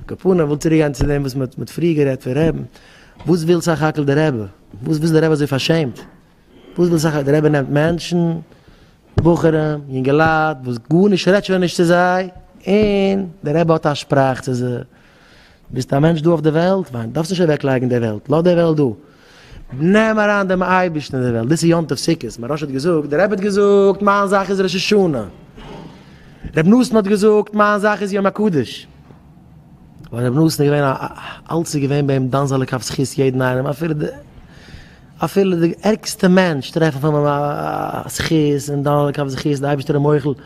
קאפונער, איך וויל צוריק גיין צו דעם וואס מען האט פריער גערעדט פון רעבן, וואס וויל סך הכל דער רבי? וואס איז דער רבי אזוי פארשעמט? וואס וויל סך הכל? דער רבי נעמט מענטשן, בחורים, יונגעלייט, וואס גארנישט רעדט שוין נישט צו זיי, און דער רבי האט א שפראך צו זיי, ביסט א מענטש דא אויף די וועלט, וויין, דארפסט נישט אוועקלייגן די וועלט, לאז די וועלט דא, נעם אריין דעם אייבערשטן אין די וועלט, דאס איז יום טוב סוכות, מוהרא ש האט געזאגט, דער רבי האט געזאגט, מיין זאך איז ראש השנה, רבי נתן האט געזאגט, מיין זאך איז יום הקדוש, ווייל רבי נתן איז געווען א, אלץ איז געווען ביי אים דן זאל ער כף זכות יעדן איינעם, אפילו די, אפילו די ערגסטע מענטש טרעפן פון אים א זכות און דן ער כף זכות, די אייבערשטער איז מוחל,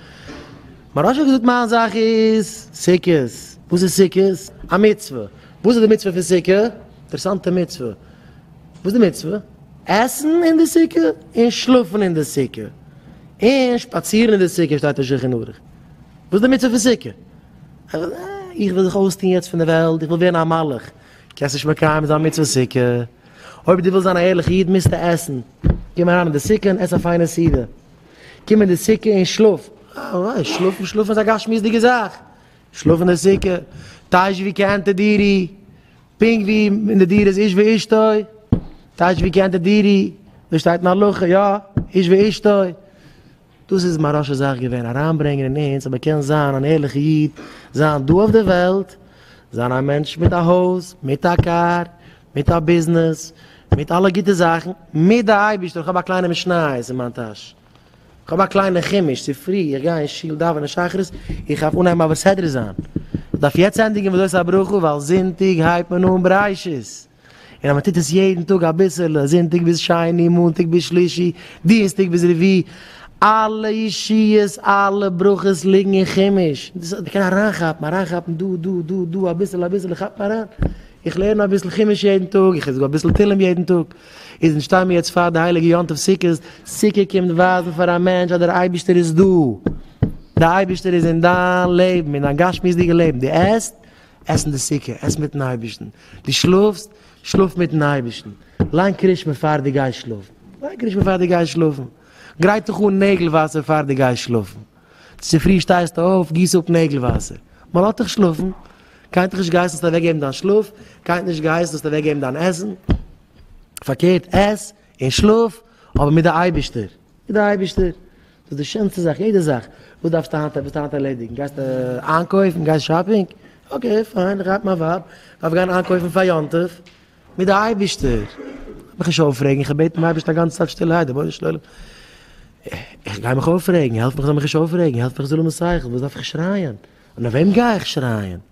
מוהרא ש האט געזאגט מיין זאך איז סוכות, וואס איז סוכות? א מצוה. וואס איז די מצוה פון סוכה? אינטערעסאנטע מצוה. וואס איז די מצוה? עסן אין די סוכה און שלאפן אין די סוכה. און שפאצירן אין די סוכה שטייט אין שולחן ערוך. וואס איז די מצוה פון סוכה? איך וויל זיך אויסטון יעצט פון די וועלט, איך וויל ווערן א מלאך. קענסט נישט מקיים זיין מצוות סוכה. אויב דו ווילסט זיין א ערליכע איד מוזטו עסן. קום אריין אין די סוכה און עס א פיינע סעודה. קום אין די סוכה און שלאף. אה, ווייסט, שלאפן, שלאפן איז א גשמיות'דיגע זאך. שלאף אין די סוכה, טייטש ווי כענתה דירי, פונקט ווי אין די דירה איז איש ואשתו, טייטש ווי כענתה דירי, דאס שטייט אין הלכה, יא, איש ואשתו, דאס איז מיין ראשע זאך געווען, אריינברענגען אין אונז אז מען קען זיין אן ערליכע איד, זיין דא אויף די וועלט, זיין א מענטש מיט א הויז, מיט א קאר, מיט א ביזנעס, מיט אלע גוטע זאכן, מיט די אייבערשטער, איך האב א קליינע משניות אין מיין טאש. כ'האב א קליינע חימוש, ס'פרי, איך גיי אין שול דאווענען שחרית, איך דארף אנהייבן אבער סדר זיין, איך דארף יעצט ענדיגן ודות הברכו ווייל זונטאג הייבט מען אן בראשית, און אז מ'טוט עס יעדן טאג אביסעלע, זונטאג ביז שני, מאנטאג ביז שלישי, דינסטאג ביז רביעי, אלע ישועות, אלע ברכות ליגן אין חימוש, מ'קען אריינכאפן, אריינכאפן דא, דא, דא, דא, אביסעלע, אביסעלע, כאפ אריין, איך לערן אביסל חימוש יעדן טאג, איך זאג אביסל תהלים יעדן טאג. איז אונז שטיי מיר יעצט פאר די הייליגע יום טוב סוכות, סוכה קומט ווייזן פאר א מענטש אז דער אייבערשטער איז דא, דער אייבערשטער איז אין דיין לעבן, אין דיין גשמיות'דיגע לעבן, דו עסט, עס אין די סוכה, עס מיטן אייבערשטן, דו שלאפסט, שלאף מיטן אייבערשטן, ליין קרישמע פאר דו גייסט שלאפן, ליין קרישמע פאר דו גייסט שלאפן, גרייט דיך אן נעגל וואסער פאר דו גייסט שלאפן. צופרי שטייסטו אויף, גיסט אפ נעגל וואסער. מען לאזט דיך שלאפן. קיינט נישט געהייסן זאלסט אוועק געבן דיין שלאף, קיינט נישט געהייסן זאלסט אוועק געבן דיין עסן. פארקערט, עס און שלאף, אבער מיט די אייבישטער. מיט די אייבישטער. דאס איז די שענסטע זאך. יעדע זאך. וואס דארפסטו היינט, וואס ווילסטו היינט ערלעדיגן? גייסטו איינקויפן? גייסט שאפינג? אקעי פיין, איך הייב מיין ווייב, איך דארף גיין איינקויפן פאר יום טוב. מיט די אייבערשטער האב איך נישט אויפרעגן, איך האב געבעטן דעם אייבערשטן א גאנצע צייט שטילערהייט, רבונו של עולם, איך גיי מיך אויפרעגן, העלף מיך איך זאל מיך נישט אויפרעגן, העלף מיך איך זאל האבן שכל, וואס דארף איך שרייען? און אויף וועם גיי איך שרייען?